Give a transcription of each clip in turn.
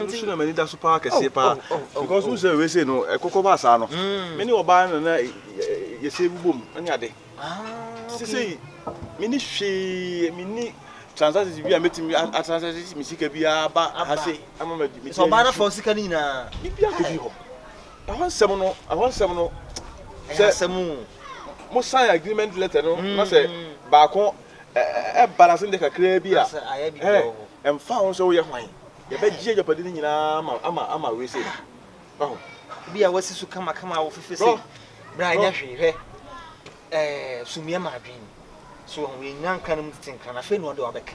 ɛno so na m'ani da so paa kɛseɛ paa because wo sɛ wese no ɛkɔkɔ ba saa no me ne ɔbaa no na yɛsɛ bubom ne ade sɛ sɛ mene hwee mene transactions bi a mɛtumi atransaction me sika biara ba ha se ama mɛtumi sɛ ɔbaa no fa sika no nyinaa bibia kɔdi hɔ Ɛhɔ nsɛm no, ɛhɔ nsɛm no. Ɛyɛ Sɛ asɛm o. mo sign agreement letter no na sɛ Mm. baako ɛ- ɛ- ɛba na sɛ ndɛ kakraa bi a, Na sɛ ayɛ biribi ɛ, wɔ hɔ. ɛmfa ho sɛ woyɛ hwan, yɛbɛgye agyapade no nyinaa ama ama ama wei sei. Wahu? Obi a wasi so kamakama a wofefe Bro. sei. Bra Bro. nyɛ hwee, hwɛ. Ɛɛ, sumiiɛ ma adwene. So, wahu, yɛnyina nkra no mu tete nkra no, afei na ɔde wabɛka.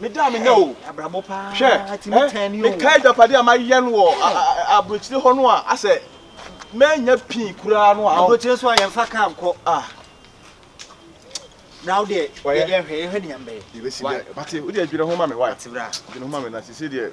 meda a menya o hwɛ ɛ meka adwapade a mayɛ no wɔ aburokyire hɔ no a asɛ manya pii koraa no a aburokyire nso a yɛmfa kaa nkɔ ah na wodeɛ yɛdeɛ hwɛ yɛhwɛ ne yɛmbɛyɛ yɛbɛsi deɛ bate wodeɛ adwene ho ma me wae adwene ho ma me na sisi deɛ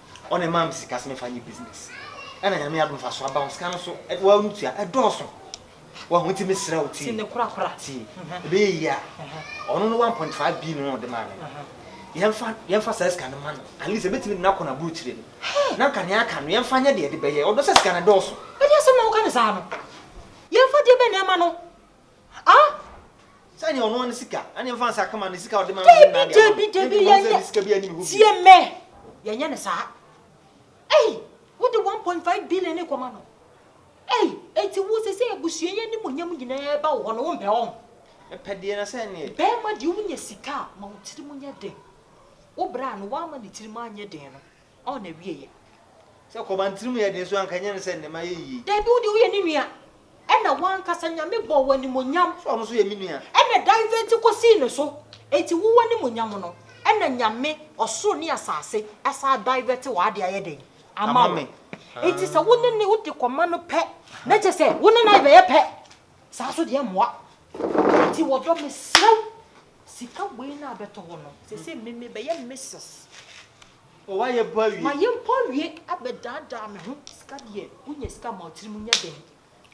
ɔna ɛmaa me sika sɛ mefa nyɛ business ɛna nyame adom fa so aba wo sika no so wa no tua ɛdɔɔso wahu nti mesrɛ wo ti ti ɛbɛyɛ yie a ɔno no 1.5 bi no ɔde maa me no yɛmfa yɛmfa saa sika no ma no at least ɛbɛtumi de no akɔ no aburukyire no na nka nea aka no yɛmfa nyɛ deɛ ɛde bɛyɛ ɔdɔ sɛ sika no ɛdɔɔso ɛdeɛ sɛ ma woka ne saa no yɛmfa deɛ bɛ nneɛma no Ah! Sɛ neɛ ɔnoa ne sika, ɛne mfa nsa kama ne sika ɔde ma me na deɛ Debi, debi, yɛnyɛ, tie mɛ, yɛnyɛ ne saa. Ei, wo de 1.5 billion ne kɔma no. Ei, enti wo sɛ sɛ abusua yɛ ne monyam nyinaa ba wo hɔ no, wo mpɛ wɔn. Mepɛ deɛ na sɛ neɛ. Bɛɛma deɛ wonya sika a, ma wo tirim nyɛ den. Wo braa no, woama ne tirim anyɛ den no, Ɔɔ na wie yɛ. Sɛ kɔban tiri mu yɛ den so anka ɛnyɛ no sɛ nnɛ ma yɛ yie. Dabi wo deɛ woyɛ ne nua. Ɛna wankasa Nyame bɔɔ wo animonyam. So ɔno nso yɛ me nua. Ɛna divert kɔ sii no so. Enti wo w'animuonyam no ɛna Nyame ɔsoro ne asaase asan divert wɔ ade ayɛ dɛn ama wo. Enti sɛ wo ne ne wo de kɔma no pɛ na kyɛ sɛ wo ne no ayɛbɛyɛ pɛ saa nso deɛ ɛmmoa. Enti wɔ dɔ mesrɛ wo sika wei no a bɛtɔ hɔ no sese me me bɛyɛ Mrs. O wayɛ bɔ awie. Mayɛ mpo awie abɛdaadaa me ho. Sika deɛ wonya sika ma wotiri mu nyɛ den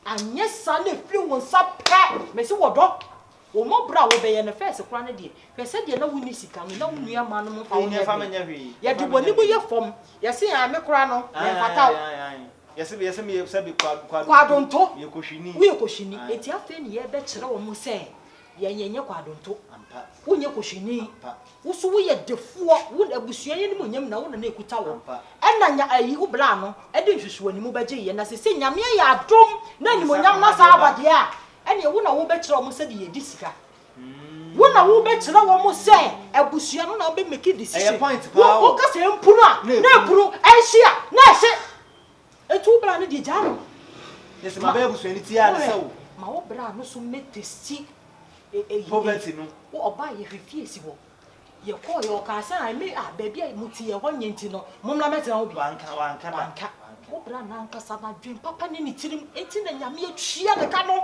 anyɛ saa na efiri wo nsa pɛ mesi wɔ dɔ wo mmɔborɔ a wobɛyɛ no fɛs koraa no deɛ hwɛ sɛdeɛ na wonni sika no na wo nua ma nom mpa wo nyɛ hwee yɛde w'anim yɛ fam yɛse yaa me koraa no mɛmfata wo yɛse bi yɛse meyɛ sɛ bi kwadonto woyɛ kɔhwini enti afei ne yɛbɛkyerɛ wɔn sɛ Yɛn yɛnyɛ kwadwonto. Ampa. Wonyɛ kohwini. Ampa. Wo so woyɛ defoɔ. Wo abusua yɛ animuonyam na wo na na ɛkuta wo. Ampa. Ɛna nya ayi wo bra no de nsusuanimu bɛgye yɛ na sese Nyame ayɛ adom na animuonyam no asan aba deɛ a ɛneɛ wo na wo bɛ kyerɛ wɔn sɛdeɛ yɛ di sika. Wo na wo bɛ kyerɛ wɔn sɛ abusua no na bɛ make decision. Ɛyɛ point paa o. Wo kasa ɛmpunu a na ɛpunu ɛnhye a na ɛhye. Etu bra no deɛ gyaa no. Yɛsɛ ma bɛyɛ abusua no tiaa no sɛ wo. Ma wo bra no so mɛ testi eyi. Poverty no. Wo ɔbaa yɛ hwɛ fie si hɔ. Yɛ kɔɔ yɛ ɔkaa sɛ a me a baabi a mo ti yɛ hɔ nyɛ nti no mo mmra mɛtena hɔ bi. Wanka wanka da. Wanka. Wo bra no ankasa no adwen papa ne ne tirim enti na nyame atua ne ka no.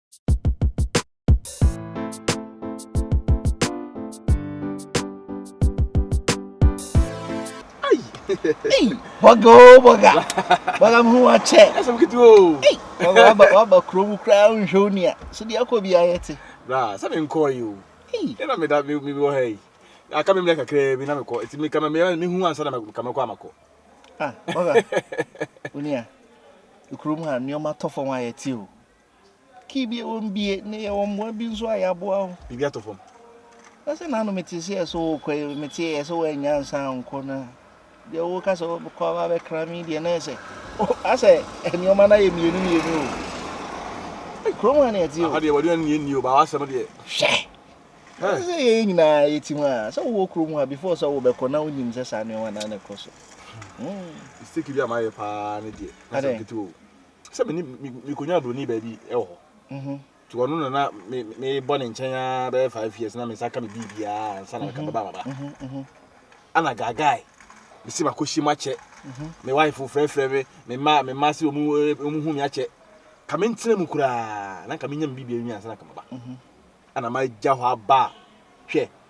bɔga o bɔga bɔga mu wa kyɛ ɛsɛ kiti o waba waba kuro mu kura nhwɛ o nia so deɛ akɔ bi ayɛ te. bra sɛ mi nkɔɔ yi o ɛna mi da mi mi wɔ ha yi aka mi mi kakra bi na mi kɔ eti mi kama mi mi hu ansa na mi kama kɔ ama kɔ. ah bɔga o nia kuro mu ha nneɛma tɔ fam ayɛ te o. Kii bi ɛwɔ mu bie na yɛwɔ mmoa bi nso a yɛaboa wo. Biribi atɔ fam. Na sɛ n'ano mete sɛ ɛsɛ wokɔ yi mete ɛsɛ wɔanya nsa nkɔ no a deɛ woka sɛ wobɛkɔ aba abɛkra me deɛ na ɛsɛ asɛ nneɛma no ayɛ mmienu mmienu o kurom ha ne ɛte o. Aha deɛ wɔde nneɛ nni o baa wasɛm deɛ. Hwɛ sɛ yɛyɛ nyinaa yɛti ho a sɛ wowɔ kurom ha before sɛ wobɛkɔ na wonim sɛ saa nneɛma no na ɛkɔ so. Mistake bi a mayɛ paa ne deɛ na sɛ nketewa o. sɛ me ne mekɔnya buroni baabi wɔ hɔ mhm. nti ɔno na na mebɔ ne nkyɛn a bɛyɛ five years na me nsa ka me biribiaa ansa na meka mhm. bɛba maba mhm, ana gaagae mesi makɔhyia mu akyɛ me wife frɛfrɛ me me mma me mma sɛ ɔmu hu me akyɛ ka mentena mu koraa na nka menya me biribiaa wi ansa na ka maba ana magya hɔ aba hwɛ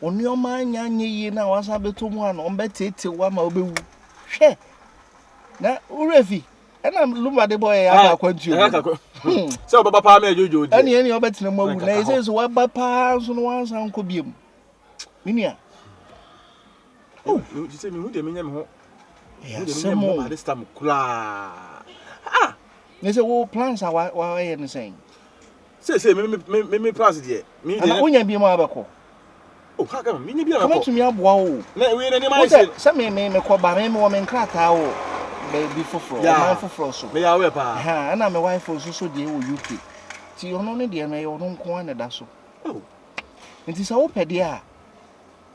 Wo nneɛma anya anyɛ yie na wasan bɛtɔ mu a na wɔbɛteetew wo ama wobɛwu. Hwɛ! Na wo werɛ fi. Ɛna Lumba de bɔɔ yɛ yɛ aba akwantuo mu. Hmm. Sɛ wɔbɛba paa ma ɛdwodwo deɛ. Ɛne ɛne wɔbɛtena mu awu na ɛsɛ sɛ wɔba paa nso no wansan nkɔ biam. Me nua. Oh. Ti sɛ mehu deɛ menyɛ me ho. Ɛyɛ asɛm o. Ade stam koraa. Ah! Ne sɛ wo plans a wɔayɛ no sɛn? Seesei me me me me me plans deɛ. Me deɛ. Ana wonya bi mu a bɛkɔ. Oh ha kama me nya bi a bɛkɔ. Kama tumi aboa wo. Na wei na nneɛma ayɛ se. Sɛ me me me kɔ ba me me wɔ me nkrataa wɔ baabi foforɔ ɔman foforɔ so. Me yɛ awɛ paa. Ha ɛna me wife nso so deɛ wɔ UK ti ɔno ne deɛ no ɛyɛ ɔno nko ara na ɛda so. Oh. Nti sɛ wopɛ deɛ a.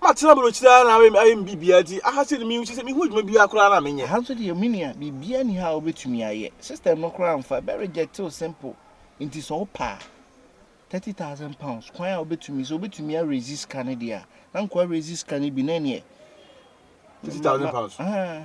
Matena aburokyire ara na ayɛ ayɛ me biribiara nti aha sɛ me sɛ mehu adwuma biara koraa na menyɛ. Aha nso deɛ me nua biribiara nni ha a wobɛtumi ayɛ. System no koraa mfa ɛbɛ reject wo simple nti sɛ wopɛ a thirty thousand pounds kwan a wobɛtumi sɛ wobɛtumi a raise sika no deɛ a na nka wa raise sika no bi na ɛneɛ Thirty thousand pounds. Ahaa.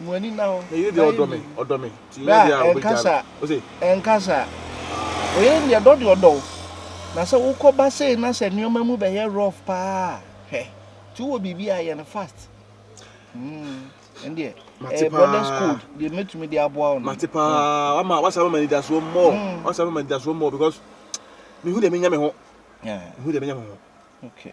Mo ani nna hɔ. N'ayiri deɛ ɔdɔ me, ɔdɔ me. Ti nyɛ deɛ a ɔbɛgya me. Ose. Ɛnka saa. Oyere deɛ dɔ deɛ ɔdɔ wo. Na sɛ wokɔ ba sei na sɛ nneɛma mu bɛyɛ rough paa a, hwɛ. Ti wowɔ biribi a yɛ no fast. Hmm. Ɛndeɛ. Mate paa. Brothers code deɛ mɛtumi de aboa wo no. Mate paa. Wama wasa mama nidasoɔ more. Wasa mama nidasoɔ more because mehu deɛ menya me ho. Mehu deɛ menya me ho. Okay.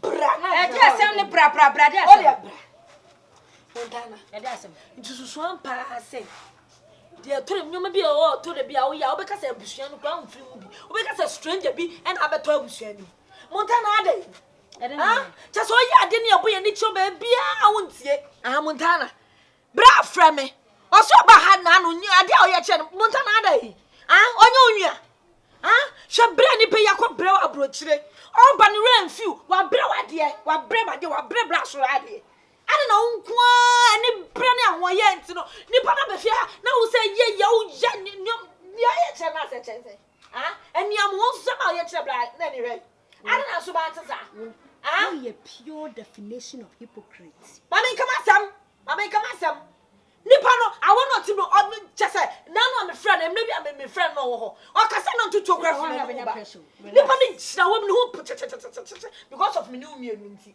Bra na bra. Ɛde asɛm ne bra bra bra de asɛm. Ɔde bra. Montana. Ɛde asɛm. Nti susu ampa ase. Deɛ toro nneɛma bi a ɔwɔ ɔtɔ da bi a woyɛ a wobɛka sɛ abusua no kura mfiri mu bi. Wobɛka sɛ stranger bi ɛna abɛtɔ abusua no. Montana adɛ. Ɛde ne. Kyɛ sɛ ɔyɛ ade ne ɛbɔ yɛ ne kyerɛ baabiara a wontie. Ah Montana. bra frɛ me ɔsɛ ɔba ha na no nyɛ adeɛ a ɔyɛ kyɛ no monta na ada yi ah ɔnyɛ onua ah hwɛ brɛ nipa yi akɔ brɛ aburokyire ɔba no werɛ mfi wo wabrɛ wadeɛ wabrɛ madeɛ wabrɛ bra soro adeɛ ɛne na wonkoaa ne brɛ ne ahoɔyɛ nti no nipa na bɛfie ha na wo sɛ yɛ yɛ wo yɛ nneɛm nea ɔyɛ kyerɛ no asɛ kyɛn sɛ ah ɛnea mo ho nsɛm a ɔyɛ kyerɛ bra na ne hwɛ Ana na so ba te saa? Ah? Wo yɛ pure definition of hypocrite. Ma me nkama asɛm. Ma me nkama asɛm. Nipa no awo no ɔte no ɔno kyɛ sɛ nanu a me frɛ no mmerɛ bi a me me frɛ no ɔwɔ hɔ. Ɔkasa na ntutuo kura fi me ne wo ba. Nipa no gyina hɔ no ho pɔtɛtɛtɛtɛtɛtɛ because of me ne wo mmienu nti.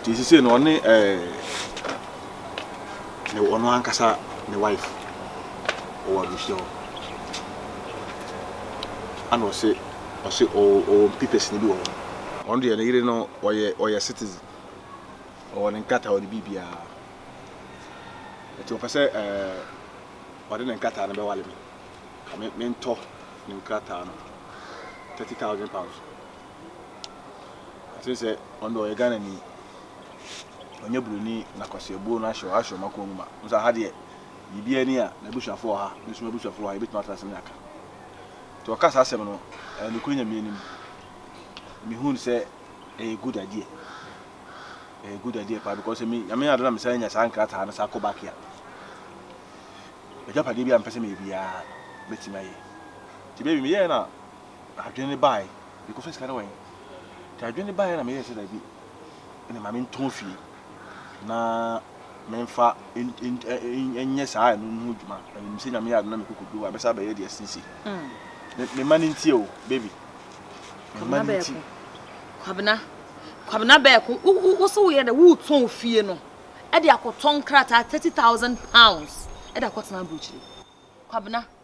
nti sisi no ɔne ɛɛ ne ɔno ankasa ne wife ɔwɔ abusua hɔ ana ɔse ɔse ɔwɔ mpipɛsi ne bi wɔ hɔ ɔno deɛ ne yere no ɔyɛ ɔyɛ citizen ɔwɔ ne nkrataa ɔde biribiara nti ɔpɛ sɛ ɛɛ ɔde ne nkrataa no bɛwale me ka me mentɔ ne nkrataa no thirty thousand pounds. Ɔse sɛ ɔno deɛ ɔyɛ Ghana ni ɔnyɛ broni na kwasiabuo no ahyɛ ahyɛ ɔmo akoma mu ma ɔmo sɛ aha deɛ biribi ani a n'abusuafo wɔ ha me nso m'abusuafo wɔ ha yɛbɛtumi atena ase ne aka nti ɔka saa asɛm no ɛyɛ nokorɛ nyame anim mehun sɛ ɛyɛ good idea ɛyɛ good idea paa because me nyame ade na me san nya saa nkrataa no saa kɔ back a agyapadeɛ bi a mpɛ sɛ meyɛ biara mɛtumi ayɛ nti baby meyɛɛ no a adwene no baeɛ mekɔ sɛ sika no wɔ he nti adwene no baeɛ na meyɛɛ sɛ daabi ɛne ma mentɔn fie na memfa nyɛ saa ɛno no ho dwuma na menim sɛ nyame yɛ adena mekɔkɔdu a bɛsa bɛyɛ deɛ sisi mema no ntie o baby mema no nti kwabena kwabena bɛɛko wo so woyɛ dɛ wotɔn fie no ɛde akɔtɔn krataa 30000 pounds ɛde akɔtena aburokyire kwabena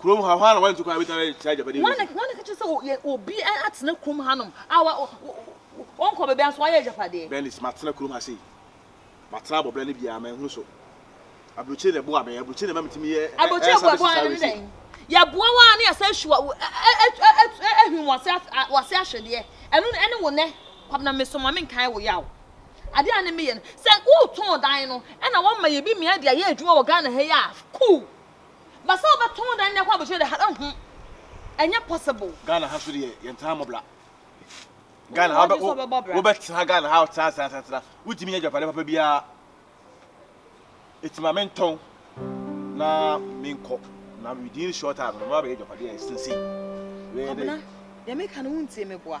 Kurom ha, hwan na wantu kwan a obetumi ayɛ saa agyapade yi mu adwuma? Hwan na ɛka kyerɛ sɛ yɛ obi atena kurom hanom a ɔnkɔ baabi anso wayɛ agyapade? Bernice, Matena kurom ha sei. Matena abɔ bra no biara, manhunu so. Aburokyire na ɛboa me, aburokyire na ɛma metumi yɛ air services saa wei sei. Yɛboa wo ara na yɛasan ahwi wo, ahwim w'ase ahwedeɛ. Ɛno no, ɛne wo nnɛ, Kwabena me so ma menkae wo yaw. Adeɛ a ne meyɛ no, sɛ woretɔn dan no, ɛna woama yɛ bi mmeae de ayɛ adwuma wɔ Ghana ha yi a, cool. But sɛ wobɛto wo dan ne akɔ abusua de ha ɛho ɛnyɛ possible. Ghana ha so deɛ yɛntena ha mmɔbra. Ghana ha wobɛtena Ghana ha tena tena tena tena wotumi nya adwapade papa biara. Eti ma mentɔn na menkɔ na within short time no mabɛyɛ adwapade a ɛsensei. Kwabena, deɛ meka no wontie me boa.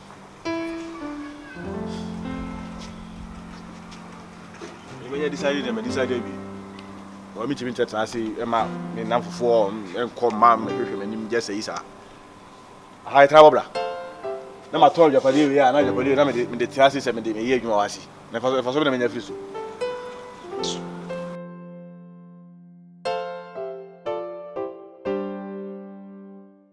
menya decide dɛ mɛdecide awie ɔ metumi nkyɛtena ase ɛma me nam fofoɔ ɛnkɔ ma mɛhwehwɛ m'anim gyɛ sɛ yi saa aha ɛtena bɔbra na matɔn adwapadeɛ wei a na adwapadeɛ na mede mede tena ase sɛ mede meyɛ adwuma wɔ ase na ɛfa so bɛ na menya firi so